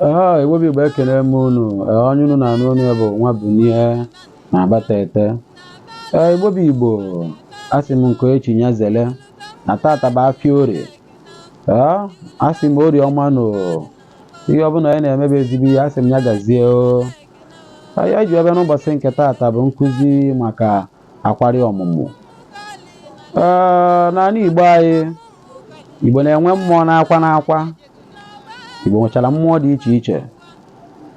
Aha Igbo bụ Igbo ekele m unu Ee, onye unu na-anụ olu ya bụ nwa Bunie na agbata ete Ee, Igbo bụ Igbo asị m nke echi nya zele na tata bụ afịa orie Ee, asị m orie ọma nụ o. ihe ọbụla anyị na-eme bụ ezigbo ihe asị m ya gazie o ihe anyị ji wee bịa n'ụbọchị nke tata bụ nkụzi maka akwari ọmụmụ Ee, n'ala Igbo anyị Igbo na-enwe mmụọ n'akwa n'akwa Igbo nwechara mmụọ dị iche iche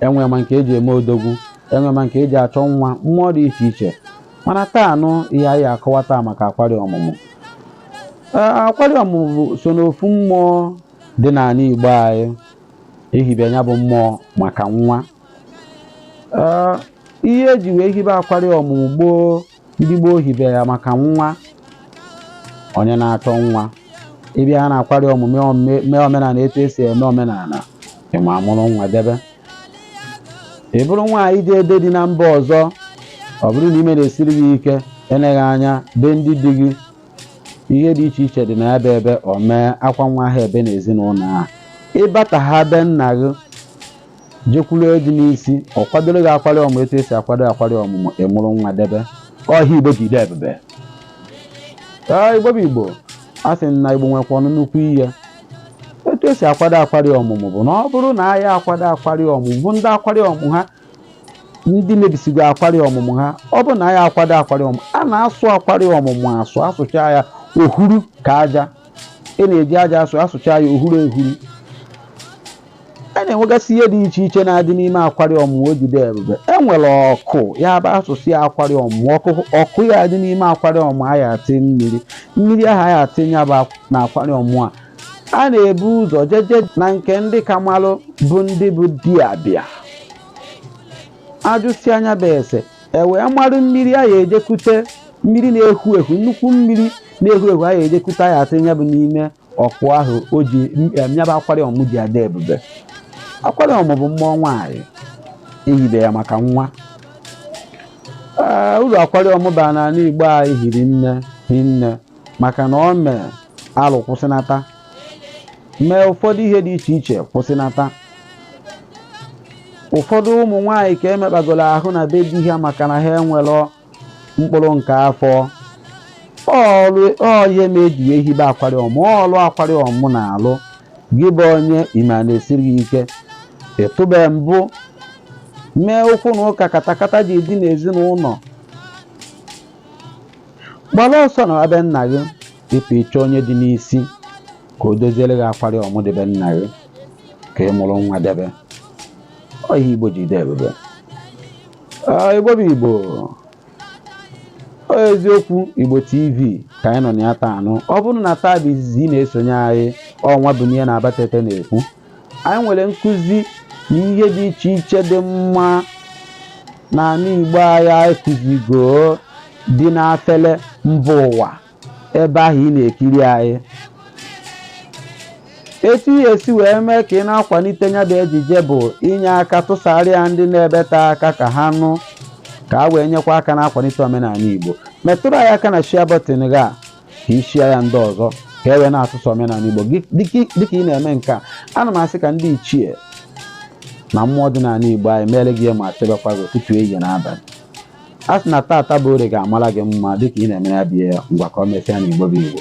enwe ma nke eji eme odogwu enwe ma nke eji achọ nwa mmụọ dị iche iche mana taanụ ihe a ya-akọwa taa maka akwari ọmụmụ akwari ọmụmụ so n'ofu mmụọ dị n'ala Igbo anyị ehibe ya bụ mmụọ maka nwa ihe eji wee hibe akwari ọmụmụ gboo ndị gboo hibe ya maka nwa onye na-achọ nwa ị bịa ha n'akwari ọmụmụ mee omenala etu esi eme omenala ị mụrụ nwa debe ị bụrụ nwaanyị jere di na mba ọzọ ọ bụrụ na ime na-esiri gị ike eleghị anya be ndị di gị ihe dị iche iche dị na ya bụ ebe o mee akwa nwa ha ebe n'ezinụlọ ahụ ị bata ha be nna gị jekwuru ọ dị n'isi ọ kwadoro gị akwari ọmụ etu esi akwado akwari ọmụmụ ị mụrụ nwa debe ọ ihe igbo ji dị ebube ee igbo bụ igbo a sị na igbo nwekwanụ nnukwu ihe etu esi akwado akwari ọmụmụ bụ na ọ bụrụ na a ya-akwado akwari ọmụmụ bụ ndị akwari ọmụ ha ndị mebisigo akwari ọmụmụ ha ọ bụrụ na a ya-akwado akwari ọmụmụ a na-asụ akwari ọmụmụ asụ asụcha ya ohuru ka aja a na-eji aja asụ asụcha ya ohuru ehuru a na-enwegasị ihe dị iche iche na-adị n'ime akwari ọmụ o ji dị ebube e nwere ọkụ ya bụ asụsịa ya akwari ọmụ ọkụ ya-adị n'ime akwari ọmụ a ya atị mmiri mmiri ahụ a ya atịnya na akwari ọmụ a a na-ebu ụzọ jeje na nke ndị ka malụ bụ ndị bụ dibịa ajụsịa nya bụ ese e wee marụ mmiri a ya ejekute mmiri na-ehu ehu nnukwu mmiri na-ehu ehu a ya ejekute a ya atịnya bụ n'ime ọkụ ahụ o ji nya bụ akwari ọmụ ji adị ebube akwari ọmụ bụ mmụọ nwaanyị ehibe ya maka nwa ee uru akwari ọmụ bara n'ala igbo anyị hiri nne hinne maka na o mee alụ kwụsịnata mee ụfọdụ ihe dị iche iche kwụsịnata ụfọdụ ụmụ nwaanyị ka emekpagoro ahụ na be di ha maka na ha enwere mkpụrụ nke afọ ọ ihe mere eji wee hibe akwari ọmụmụ ọrụ akwari ọmụmụ na-alụ gị bụ onye ime a na-esiri gị ike ịtụbe mbụ mee okwu na ụka katakata ji dị n'ezinụlọ gbara ọsọ na be nna gị ịpụ ịchọ onye dị n'isi ka o doziere gị akwari ọmụmụ dị be nna gị ka ị mụrụ nwa debe ọ ihe igbo ji dị ebube Igbo bụ Igbo eziokwu Igbo TV ka anyị nọ na ya taanụ ọ bụrụ na taa bụ izizi ị na-esonye anyị ọ Nwabunie n'Abatete na-ekwu anyị nwere nkụzi na ihe dị iche iche dị mma n'ala Igbo anyị anyị kụzigo dị n'afele mba ụwa ebe ahụ ị na-ekiri anyị etu ị ga-esi wee mee ka ị na-akwalite ya bụ ejije bụ inye aka tụsara ya ndị na-ebeta aka ka ha nụ ka a wee nyekwa aka na-akwalite omenala Igbo metụrụ anyị aka na share button gị a ka ị share ya ndị ọzọ ka e wee na-atụsa omenala Igbo dịka ị na-eme nke a ana m asị ka ndị ichie na mmụọ dị n'ala Igbo anyị meere gị ihe ọma chebekwa gị ụtụtụ ehihie na abalị a sị na tata bụ orie ga-amara gị mma dịka ị na-emere ya bụ ihe ngwa ka o mesịa na igbo bụ igbo